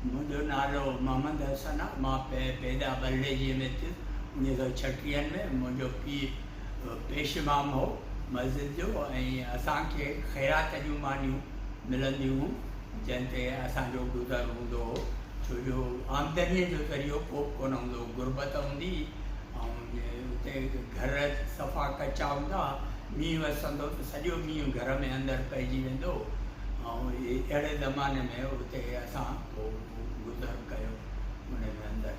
منهنجو نالو محمد حسن آ مان پيدا ٻرڙيجي ۾ ٿيس انيس سئو ڇٽيهن ۾ منهنجو پيء پيش امام هو مسجد جو ۽ اسان کي خيرات جون مانيون ملنديون هون جنهن تي اسان جو گذر هوندو هو ڇو جو آمدني جو ذريعو ڪوبه ڪونه هوندو هو غربت هوندي هئي اتي گهر صفا ڪچا هوندا مينهن وسندو ته سڄو مينهن گهر ۾ اندر پئجي ويندو اهڙي زماني ۾ اتي اسان گذر ڪيو ان جي اندر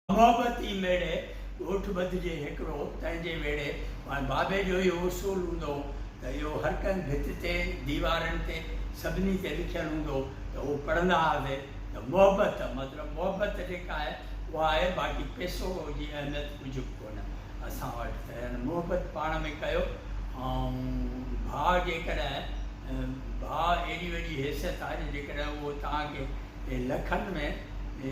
محبتي ميڙي ڳوٺ ٻڌجي هڪڙو تنهن جي ويڙي ماهي بابي جو اهو اصول هوندو هو ته اهو هر ڪنهن ڀت تي ديوارن تي سڀني تي لکيل هوندو هو ته اهو پڙهندا هئاسي ته محبت مطلب محبت جيڪا آهي اها آهي باقي پيسو جي اهميت ڪجهه به ڪونه اسان وٽ ته هن محبت پاڻ ۾ ڪيو ۽ ڀاء جيڪڏهن ڀاء ايڏي وڏي حيثيت آهي جو جيڪڏهن اهو توهان کي لکن ۾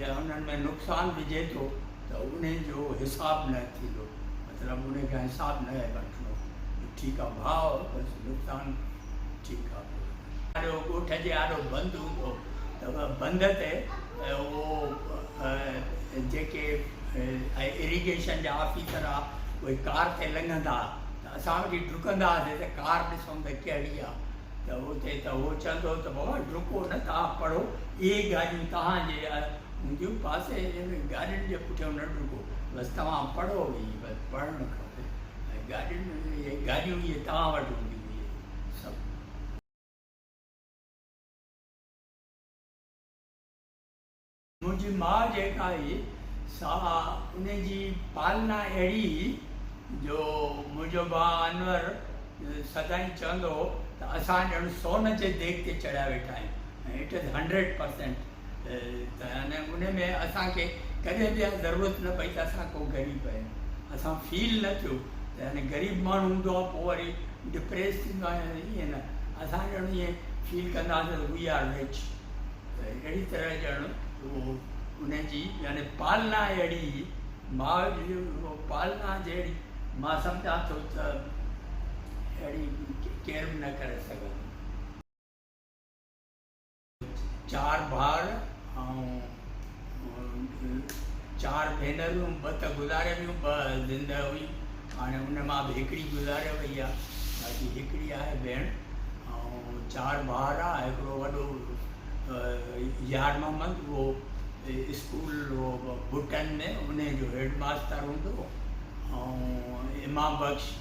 يا انهن ۾ نقصان وجهي ٿو ته ان جو حساب نه ٿيندو مطلب ان کان حساب نه وٺندو ته ٺيڪ آهي ڀاء بس نقصان ٺيڪ آ پوء آڏو ڳوٺ جي آڏو بند هوندو ته بند تي اهو جيڪي اريگيشن جا آفيسر آ اهي ڪار تي لنگهندا ها ته اسان وٺي ڊڪندا هئاسين ته ڪار ڏسون ته ڪهڙي آ ته اتي ته هو چوندو هو ته بابا ڊڪو نه توهان پڙهو اهي گاڏيون توهان جي هونديون پاسي ۾ گاڏين جي پٺيون نه ڊڪو بس توهان پڙهو هي بس پڙهڻ کپي ۽ گاڏين ۾ گاڏيون اهي توهان وٽ هونديون هيون. منهنجي ماء جيڪا هئي سا ان جي پالنا اهڙي هئي جو منهنجو ڀاء انور سدائين چوندو هو ته اسان ڄڻ سون جي ديڳ تي چڙهيا ويٺا آهيون ۽ اٽ از هنڊريڊ پرسينٽ ۽ ان ۾ اسان کي ڪڏهن به اها ضرورت نه پئي ته اسان ڪو غريب آهيون اسان فيل نه ٿيو ته يعني غريب ماڻهو هوندو آهي پوء وري ڊپريس ٿيندو آهي ائين نه اسان ڄڻ ائين فيل ڪنداسين ته وي آر رچ ته اهڙي طرح ڄڻ اهو ان جي يعني پالنا اهڙي هئي ماء جي پالنا جهڙي مان سمجهان ٿو ته اهڙي ڪير به نه ڪري سگهندو چار ڀائر ۽ چار ڀينرون ٻه ته گذاري ويون ٻه زندهه هئي هاڻي ان مان به هڪڙي گذاري وئي آ باقي هڪڙي آهي ڀيڻ ۽ چار ڀائر آ هڪڙو وڏو يار محمد اهو اسڪول ڀٽن ۾ انهي جو هيڊ ماستر هوندو هو ۽ امام بخش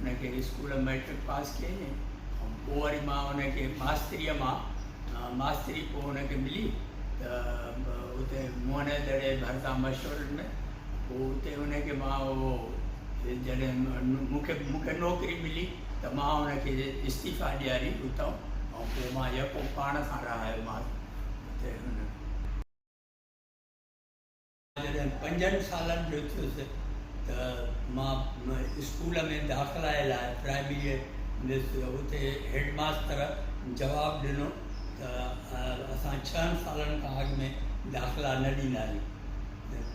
ان کي اسڪول مئٽرڪ پاس ڪيائين ۽ پوء وري مان ان کي ماستريء مان ماستري پوء ان کي ملي ته اتي موهن جي دڙي جي ڀرسان مشورن ۾ پوء اتي ان کي مان اهو جڏهن مون کي مون کي نوڪري ملي ته مان ان کي استعيفا ڏياري اتان ۽ پوء مان يڪو پاڻ سان رهايومانس اتي هن جڏهن پنجن سالن جو ٿيس ته مان اسڪول ۾ داخلائي لاء پرائمريء ويس. اتي هيڊ ماستر جواب ڏنو ته اسان ڇهن سالن کان اڳ ۾ داخلا نه ڏيندا آهيون.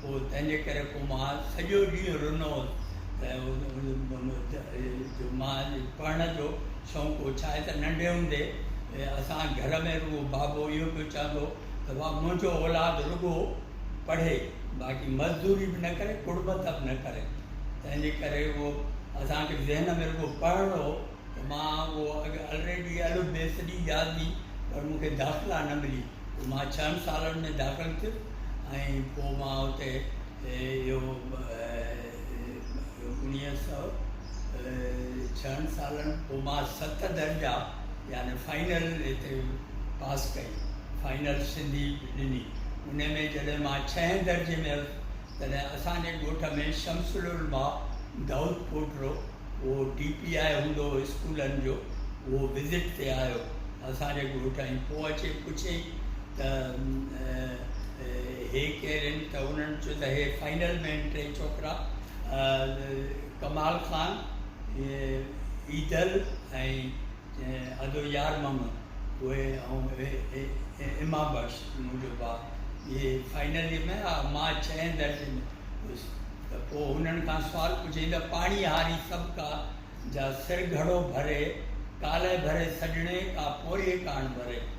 پوء تنهنجي ڪري پوء مان سڄو ڏينهن رنو هوس جو مان پڙهڻ جو شوق هو. ڇاهي ته ننڍي هوندي اسان گهر ۾ رڳو بابو اهو پيو چوندو هو ته واهه منهنجو اولاد رڳو پڙهي باقي مزدوري به نه ڪري ڪڙٻت به نه ڪري تنهن جي ڪري اهو اسان کي ذهن ۾ رڳو پڙهڻ هو ته مان اهو اڳ الريڊي الف بي سڄي ياد هئي پر مون کي داخلا نه ملي پوء مان ڇهن سالن ۾ داخل ٿيس ۽ پوء مان اتي اهو انهيء سؤ ڇهن سالن پوء مان ست درجا يعني فائنل هتي پاس ڪئي فائنل سنڌي ڏني انهيء ۾ جڏهن مان ڇهين درجي ۾ هيس تڏهن اسان جي ڳوٺ ۾ شمس العلماء دائود پوٽرو اهو ڊي پي آء هوندو هو اسڪولن جو اهو وزٽ تي آيو اسان جي ڳوٺ ۽ پوء اچي پڇيائين ته هي ڪير هن ته انهن چيو ته هي فائنل مين ٽي ڇوڪرا ڪمال خان ايڌل ۽ آجو يار محمد اهي ۽ ايما بخش منهنجو ڀاء اهي فائنل ۾ آيا مان ڇهين درجي ۾ هيس ته پوء هنن کان سوال پڇيائين ته پاڻي هاري سڀ ڪا جا سر گهڙو ڀري ڪالهه ڀري سڄڻي ڪا پورهيي ڪاڻ ڀري.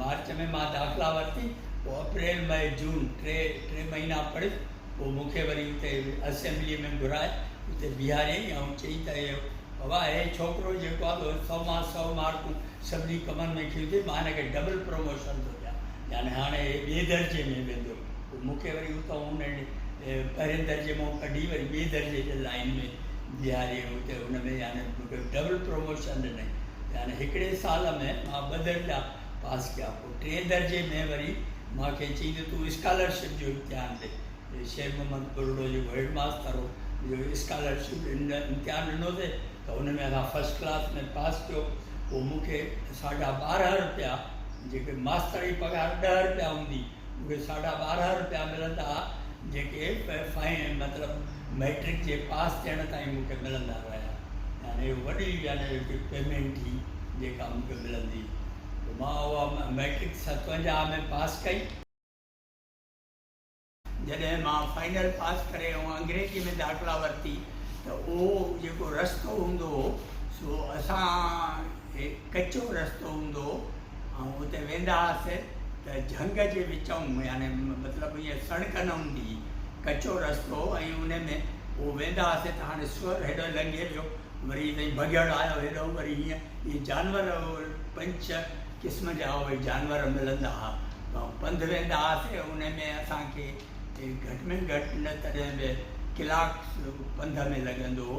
مارچ ۾ مان داخلا ورتي پوء اپريل مئي جون ٽي ٽي مهينا پڙهيس پوء مون کي وري اتي اسيمبلي ۾ گهرائي اتي بيهاريائين ۽ چيائين ته اهي بابا هي ڇوڪرو جيڪو آهي اهو سؤ مان سؤ مارڪون سڀني ڪمن ۾ کڻي ٿي مان هن کي ڊبل پروموشن ٿو ڏيان يعني هاڻي هي ٻئي درجي ۾ ويندو. مون کي وري اتان انهن پهرين درجي مان ڪڍي وري ٻئي درجي جي لائين ۾ بيهاري اتي ان ۾ يعني مونکي ڊبل پروموشن ڏنائين يعني هڪڙي سال ۾ مان ٻه درجا پاس ڪيا پوء ٽئين درجي ۾ وري مان کي چيائين ته تون اسڪالرشپ جو امتحان ڏي شير محمد ٻرڙو جيڪو هيڊ ماستر هو جو اسڪالرشپ امتحان ڏنوسي ته ان ۾ اسان فرسٽ ڪلاس ۾ پاس ڪيو پوء مونکي ساڍا ٻارهن رپيا جيڪي ماستر جي پگهار ڏهه رپيا هوندي اهي ساڍا ٻارهن روپيا ملندا ها جيڪي فائن مطلب مئٽرڪ جي پاس ٿيڻ تائين مون کي ملندا رهيا يعني اهو وڏي يعني هڪ پيمنٽ هئي جيڪا مون کي ملندي هئي مان اها مئٽرڪ ستونجاهه ۾ پاس ڪئي. جڏهن مان فائنل پاس ڪري ۽ انگريزي ۾ داخلا ورتي ته اهو جيڪو رستو هوندو هو سو اسان کي ڪچو رستو هوندو هو ۽ اتي ويندا هئاسي ته جهنگ جي وچئون يعني مطلب ائين سڻڪ نه هوندي هئي ڪچو رستو هو ۽ ان ۾ پوء ويندا هئاسي ته هاڻي سوئر هيڏانهن لنگهي ويو وري تائين بگهڙ آيو هيڏانهن وري هيئن ائين جانور پنج ڇهه قسم جا اهي جانور ملندا هئا ۽ پنڌ ويندا هئاسي ان ۾ اسان کي گهٽ ۾ گهٽ نه تڏهن به ڪلاڪ پنڌ ۾ لڳندو هو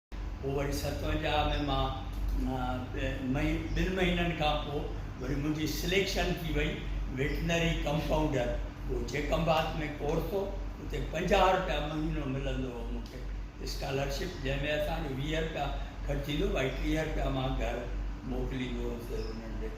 پوء وري ستونجاهه ۾ مان ٻن مهينن کان پوء وري منهنجي سليڪشن ٿي وئي ويٽنري ڪمپائونڊر اهو چيڪنبات ۾ ڪورس هو اتي پنجاهه رپيا مهينو ملندو هو مون کي اسڪالرشپ جنهن ۾ اسان جو ويهه رپيا خرچ ٿيندو هو ۽ ٽيهه رپيا مان گهر موڪليندو هوس انهن ڏي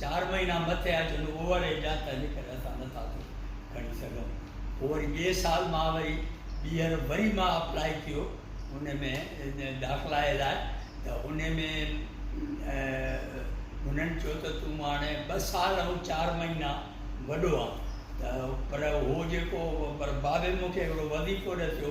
چار مهينا مٿي آيا چون اوور ايج آ تنهنجي ڪري اسان نٿا ٿو کڻي سگهون پوء وري ٻئي سال مان وري ٻيهر وري مان اپلاء ڪيو ان ۾ داخلائي لاء ته ان ۾ هنن چيو ته تون هاڻي ٻه سال ۽ چار مهينا وڏو آ ته پر هو جيڪو پر بابي مونکي هڪڙو وظيفو ڏسيو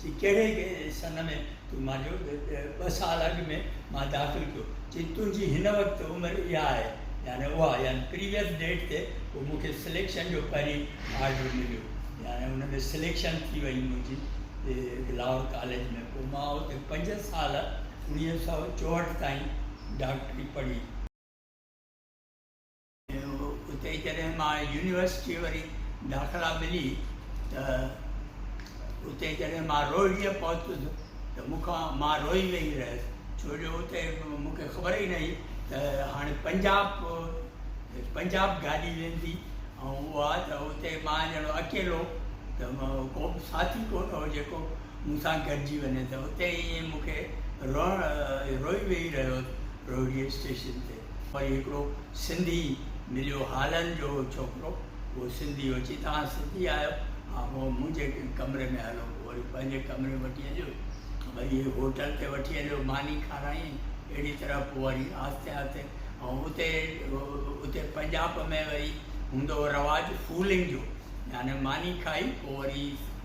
چي ڪهڙي سن ۾ تون مانجو ٻه سال اڳ ۾ مان داخل ڪيو. چي تنهنجي هن وقت عمر اها آهي يعني اها يعني پريويس ڊيٽ تي پوء مون کي سليڪشن جو پهرين آرڊر مليو يعني ان ۾ سليڪشن ٿي وئي منهنجي لاهور ڪاليج ۾ پوء مان اتي پنج سال اوڻيهه سؤ چوهٺ تائين ڊاڪٽري پڙهي. اتي جڏهن مان يونيورسٽيء وري داخلا ملي ته اتي جڏهن مان روهڙيء پهتس ته مون کان مان روئي ويئي رهيس ڇو جو اتي مون کي خبر ئي نه هئي ته هاڻي پنجاب پنجاب گاڏي ويندي ۽ اها ته اتي مان ڄڻو اڪيلو ته ڪو به ساٿي ڪو نه هو جيڪو مون سان گڏجي وڃي ته اتي ائين مون کي روئڻ روئي ويئي رهيس روهڙيء اسٽيشن تي وري هڪڙو سنڌي مليو هالن جو ڇوڪرو اهو سنڌي هو چي توهان سنڌي آهيو ها هو منهنجي ڪمري ۾ هلو وري پنهنجي ڪمري ۾ وٺي هليو وري هوٽل تي وٺي هليو ماني کارائين اهڙي طرح پوء وري آهستي آهستي ۽ اتي اتي پنجاب ۾ وري هوندو هو رواج فولنگ جو يعني ماني کائي پوء وري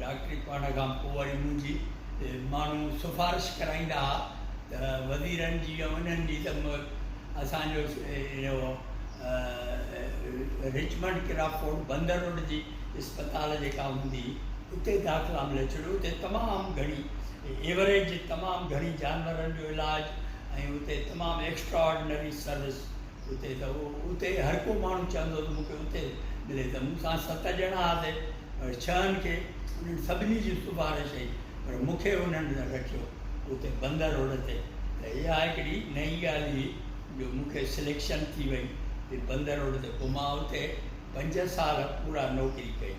ڊاڪٽري پڙهڻ کان پوء وري منهنجي ماڻهو سفارش ڪرائيندا ها ته وزيرن جي ۽ انهن جي ته اسان جو اهو رچمنڊ ڪرافورڊ بندر روڊ جي اسپتال جيڪا هوندي هئي اتي داخلا ملي ڇڏيو اتي تمام گهڻي ايوريج تمام گهڻي جانورن جو علاج ۽ اتي تمام ايڪسٽرا آرڊنري سروس اتي ته اتي هر ڪو ماڻهو چاهندو هو ته مون کي اتي ملي ته مون سان ست ڄڻا هئاسي پر ڇهن کي انهن سڀني جي سفارش هئي پر مون کي انهن رکيو اتي بند روڊ تي ته اها هڪڙي نئين ڳالهه هئي جو مون کي سليڪشن ٿي وئي هئي بند روڊ تي پوء مان اتي پنج سال پورا نوڪري ڪئي.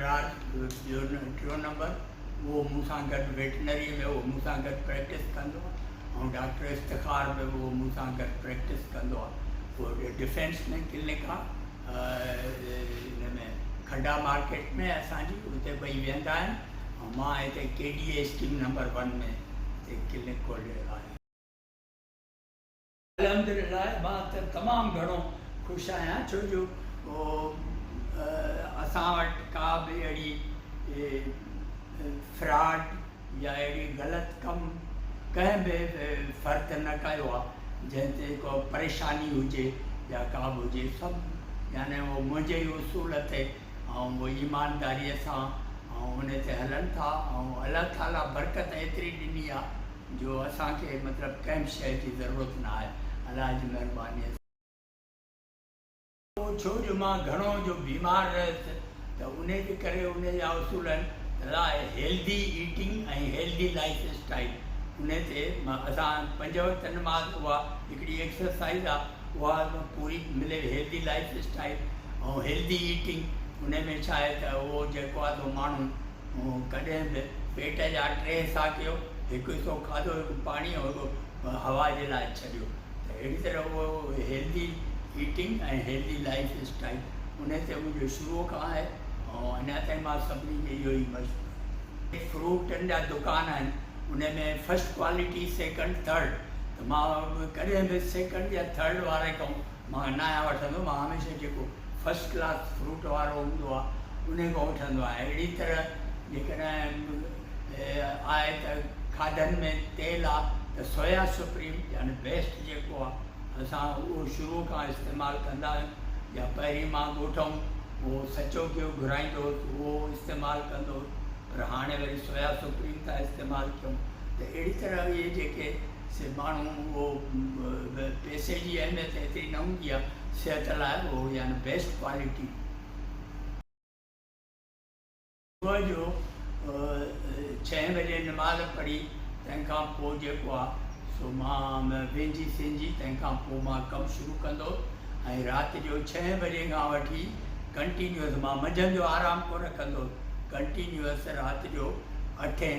ريبراڊ جو ٽيون نمبر اهو مون سان گڏ ويٽنري ۾ اهو مون سان گڏ پريڪٽس ڪندو آهي ۽ ڊاڪٽر افتخار به اهو مون سان گڏ پريڪٽس ڪندو آهي اهو ڊفينس ۾ ڪلنڪ آهي ان ۾ کڊا مارڪيٽ ۾ اسان جي اتي ٻئي ويهندا آهن ۽ مان هتي K D A scheme number one ۾ clinic کوليل آهي الحمدلله مان ته تمام گهڻو خوش آهيان ڇو جو اسان وٽ ڪا به اهڙي فراڊ يا اهڙي غلط ڪم ڪنهن به فرد نه ڪيو آهي جنهن تي ڪو پريشاني هجي يا ڪا به هجي سڀ يعني اهو منهنجي ئي اصول تي ۽ اهو ايمانداري سان ۽ ان تي هلن ٿا ۽ الله تعاليٰ برڪت ايتري ڏني آهي جو اسان کي مطلب ڪنهن به شيء جي ضرورت نه آهي الله جي مهربانيء سان. اهو ڇو جو مان گهڻو جو بيمار رهيس ته انهي جي ڪري انهي جا اصولن لاء healthy eating ۽ healthy life style انهي تي مان اسان پنج وقت نماز اها هڪڙي ايڪسرسائيز آهي اها پوري ملي healthy life style ۽ healthy eating انهي ۾ ڇا آهي ته اهو جيڪو آهي سو ماڻهو مون ڪڏهن به پيٽ جا ٽي حصا ڪيو، هڪ حصو کاڌو هڪ پاڻي ۽ هڪ هوا جي لاء ڇڏيو ته اهڙي طرح اهو healthy eating ۽ healthy life style ان تي منهنجو شروع کان آهي ۽ اڃا تائين مان سڀني کي اهو ئي مشورو ڏيندس. فروٽن جا دڪان آهن ان ۾ فرسٽ ڪوالٽي سيڪنڊ ٿرڊ ته مان ڪڏهن به سيڪنڊ يا ٿرڊ واري کان مان ناهيان وٺندو، مان هميشه جيڪو فرسٽ ڪلاس فروٽ وارو هوندو آ انهي کان وٺندو آهيان اهڙي طرح جيڪڏهن آهي ته کاڌن ۾ تيل آ ته سويا سپريم يعني بيسٽ جيڪو آ اسان اهو شروع کان استعمال ڪندا آهيون يا پهرين مان ڳوٺ هوم اهو سچو گيهو گهرائيندو هوس اهو استعمال ڪندو هوس پر هاڻي وري سويا سپريم ٿا استعمال ڪيون ته اهڙي طرح اهي جيڪي سي ماڻهو اهو به پئسي جي اهميت ايتري نه هوندي آهي صحت لاء اهو يعني بيسٽ ڪوالٽي. صبح جو ڇهين بجي نماز پڙهي تنهن کان پوء جيڪو آهي سو مان وينجي سينجي تنهن کان پوء مان ڪم شروع ڪندو ۽ رات جو ڇهين بجي کان وٺي ڪنٽينيوس مان منجهند جو آرام ڪونه ڪندو ڪنٽينيوس رات جو اٺين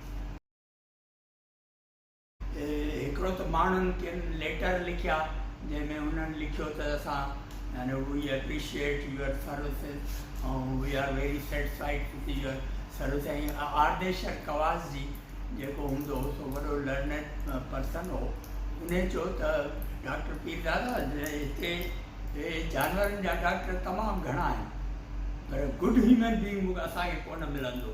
هڪڙو ته ماڻهن ڪن ليٽر لکيا جنهن ۾ انهن لکيو ته اسان يعني we appreciate your services ۽ we are very satisfied with your services ۽ Ardeshir Cowasjee جيڪو هوندو هو سو وڏو لرنيڊ پرسن هو انهي چيو ته ڊاڪٽر پيردادا هتي هي جانورن جا ڊاڪٽر تمام گهڻا آهن پر گڊ هيومن بينگ اسان کي ڪونه ملندو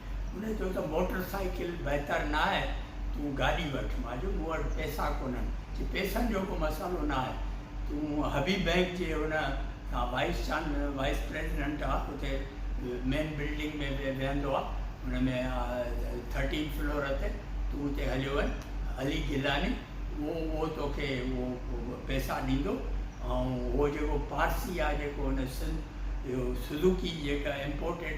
هن چيو ته موٽر سائيڪل بهتر نه آهي، تون گاڏي وٺ. مان چيو مون وٽ پئسا ڪونهن. چي پئسن جو ڪو مسئلو نه آهي، تون حبيب بئنڪ جي ان تان وائيس چان وائيس پريزيڊنٽ آ اتي مين بلڊنگ ۾ ويهندو آ ان ۾ ٿرٽين فلور تي تون اتي هليو وڃ علي گيلاني اهو اهو توکي اهو پئسا ڏيندو ۽ اهو جيڪو پارسي آ جيڪو ان سنڌ اهو سزوڪي جيڪا امپورٽيڊ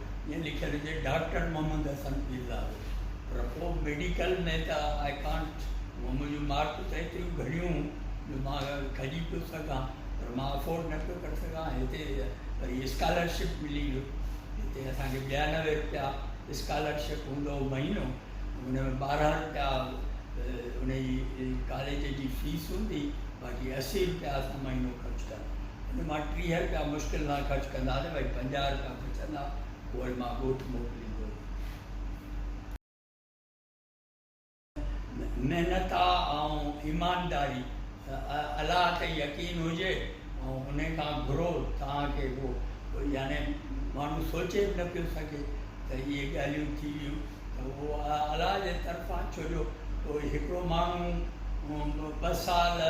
ائين لکيل هجي ڊاڪٽر محمد حسن پير لاهوري پر پوء ميڊيڪل ۾ ته آء ڪانٽ هونئن منهنجون مارڪون ته ايتريون گهڻيون هون جو مان کڄي پيو سگهان پر مان افورڊ نه پيو ڪري سگهان هتي وري اسڪالرشپ ملي هئي هتي اسان کي ٻيانوي رپيا اسڪالرشپ هوندو هو مهينو ان ۾ ٻارهن رپيا ان جي ڪاليج جي فيس هوندي باقي اسي رپيا اسان مهينو خرچ ان مان ٽيهه رپيا مشڪل سان خرچ ڪندا ته وري پنجاهه رپيا بچندا اهي مان ڳوٺ موڪليندو هيم محنت ۽ ايمانداري الله تي يقين هجي ۽ ان کان گهرو توهان کي اهو يعني ماڻهو سوچي به نه پيو سگهي ته اهي ڳالهيون ٿي ويون ته اهو الله جي طرفان ڇو جو هڪڙو ماڻهو ٻه سال ۽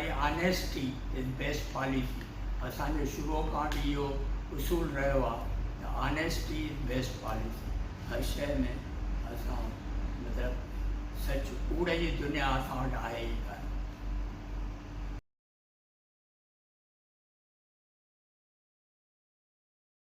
۽ Honesty is best policy اسان جو شروع کان به اهو اصول رهيو آهي ته Honesty is best policy هر شيء ۾ اسان مطلب سچ ڪوڙ جي دنيا اسان وٽ آهي ئي ڪانه.